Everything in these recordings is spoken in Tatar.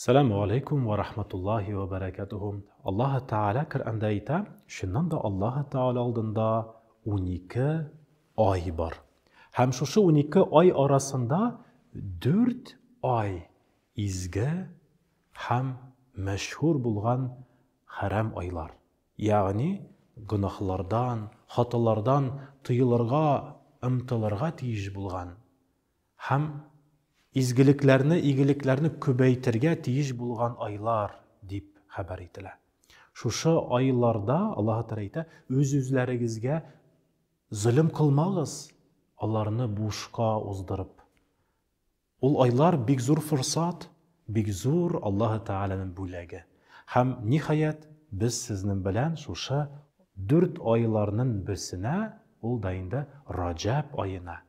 Сәлам галәйкүм вә рахматуллаһи вә бәрәкәтүһү. Аллаһы Тәгалә Коръәндә әйтә, чыннан да Аллаһы Тәгалә алдында унике ай бар. Һәм шушы унике ай арасында дүрт ай изге һәм мәшһүр булган хәрам айлар. Ягъни гөнаһлардан, хаталардан тыелырга, ымтылырга тиеш булган Һәм изгелекләрне, игелекләрне күбәйтергә тиеш булган айлар, дип хәбәр ителә. Шушы айларда, Аллаһы Тәгалә әйтә, үз-үзләрегезгә зөлем кылмагыз, аларны бушка уздырып. Ул айлар бик зур форсат, бик зур Аллаһы Тәгаләнең бүләге. Һәм, ниһаять, без сезнең белән шушы дүрт айларның берсенә, ул да инде Раҗәб аена,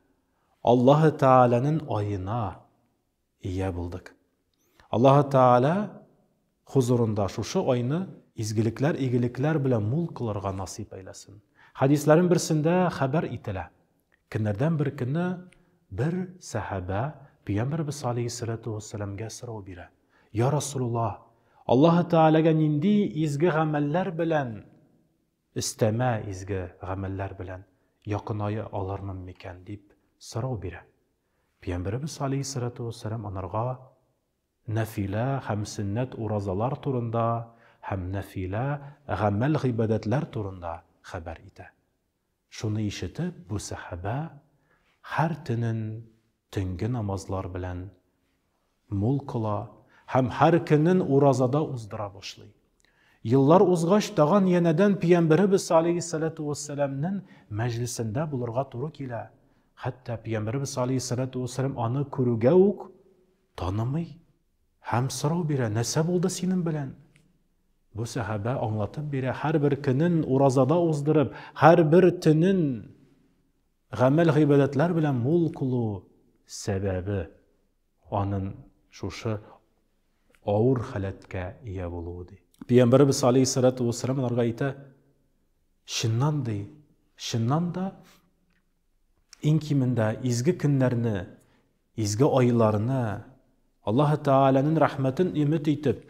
Аллаһы Тәгаләнен аена ия булдык. Аллаһы Тәгалә хозурында шушы айны изгелекләр, игелекләр белән мул кылырга насыйп әйләсен. Хәдисләрен берсендә хәбәр ителә. Көннәрдән бер көнне бер сәхабә Пөйәмбәрбез алейһиссәләтү вәссәләмгә сорау бирә. Йа Расулулла, Аллаһы Тәгаләгә нинди изге гамәлләр белән Өстәмә изге гамәлләр белән якыная алырмын микән? дип сорау бирә. Пиямберебез алейһиссалату уәссәлам анарга нәфилә һәм сөннәт уразалар турында һәм нәфилә гамәл-гыйбадәтләр турында хәбәр итә. Шуны ишетеп, бу сәхабә һәр төнен төнге намазлар белән Мул кыла һәм һәр көнен уразада уздыра башлый. Еллар узгач, тагын янәдән Пиямберебез алейһиссәләтү вәссәламнен мәҗлесендә булырга туры килә. Хәтта Пиямберебез алейһиссәләтү вәссәлам аны күрүгә үк танымый һәм сорау бирә, Нәрсә булды синең белән? Бу сәхабә аңлатып бирә, Һәрбер көнен уразада уздырып, һәрбер төнен Гамәл-гыйбадәтләр белән мул кылу сәбәбе анын шушы авыр халәткә ия булуы ди. Пиямбарыбыз алейхиссалату вассалам аларга әйтә, чыннан ди, чыннан да иң кимендә изге көннәрне Изге айларны, Аллаһы Тәгаләнен рәхмәтен өмет итеп,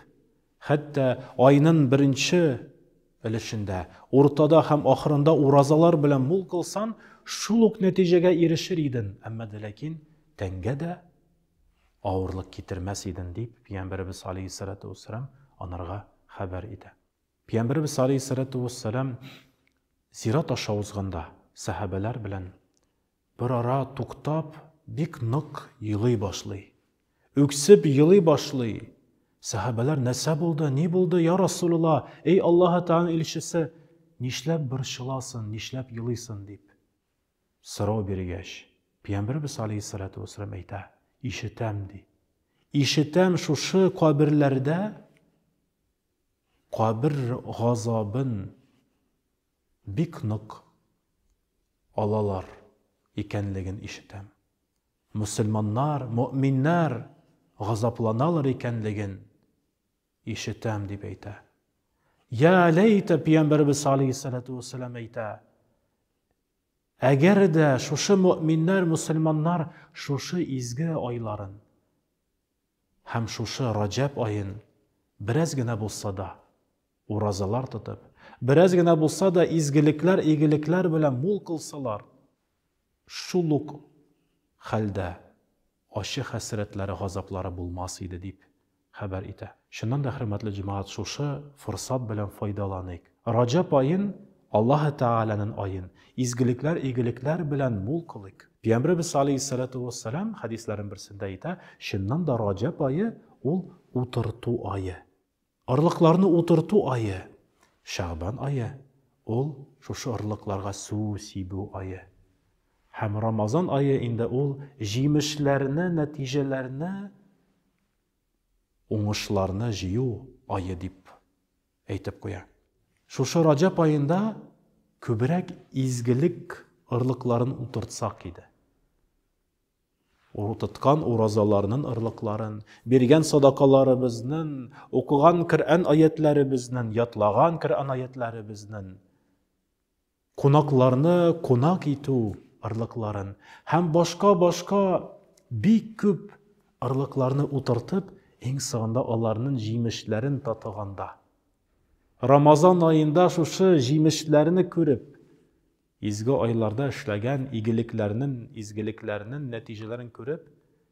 хәтта айнын беренче өлешендә, уртада һәм ахырында уразалар белән мул кылсан, шул ук нәтиҗәгә ирешер иден, әмма дә ләкин тәнгә дә авырлык китермәс иден, дип Пиямбәребез алейһиссәләтү вәссәлам анарга хәбәр итә. Пиямбәребез алейһиссәләтү вәссәлам зират аша узганда, сәһабәләр белән Берара туктап, бик нык елый башлый. Үксеп елый башлый. Сәхабәләр, Нәрсә булды, ни булды, йа Расулулла, эй Аллаһы Тәгаләнең илчесе, нишләп борчыласын, нишләп елыйсын? дип сорау биргәч, Пәйгамбәребез галәйһиссәлату вәссәлам әйтә, Ишетәм, ди. Ишетәм, шушы каберләрдә кабер газабын Бик нык алалар икәнлеген ишетәм. Мөселманнар, мөэминнәр газапланалар икәнлеген ишетәм, дип әйтә. Йә ләйтә пиямбәребез алейһиссәләтү вәссәлам әйтә, Әгәр дә шушы мөэминнәр, мөселманнар шушы изге айларын Һәм шушы Раҗәб аен бераз генә булса да уразалар тотып, бераз генә булса да изгелекләр, игелекләр белән мул кылсалар, шул ук хәлдә ачы хәсрәтләре, газаплары булмас иде, дип хәбәр итә. Чыннан да, хөрмәтле җәмәгать, шушы форсат белән файдаланыйк. Раҗаб аен, Аллаһы Тәгаләнен аен, изгелекләр, игелекләр белән мул кылыйк. Пиямбребез алейһиссалату уәссәлам хәдисләрен берсендә әйтә, чыннан да Раҗаб ае, ул утырту ае. Орлыкларны утырту ае. Шәгъбан ае, ул шушы орлыкларга су сибү ае. Һәм Рамазан ае инде ул җимешләрне, нәтиҗәләрне, уңышларны җыю ае дип әйтеп куя. Шушы Раҗәп аенда күбрәк изгелек орлыкларын утыртсак иде. Утырткан уразаларның орлыкларын, биргән садакаларыбызның, укыган Коръән аятләребезнең, ятлаган Коръән аятләребезнең Кунакларны кунак итү орлыкларын һәм башка-башка бик күп орлыкларны утыртып, иң соңында аларнын җимешләрен татыганда, Рамазан аенда шушы җимешләрне күреп, изге айларда эшләгән игелекләрнен, изгелекләрнен нәтиҗәләрен күреп,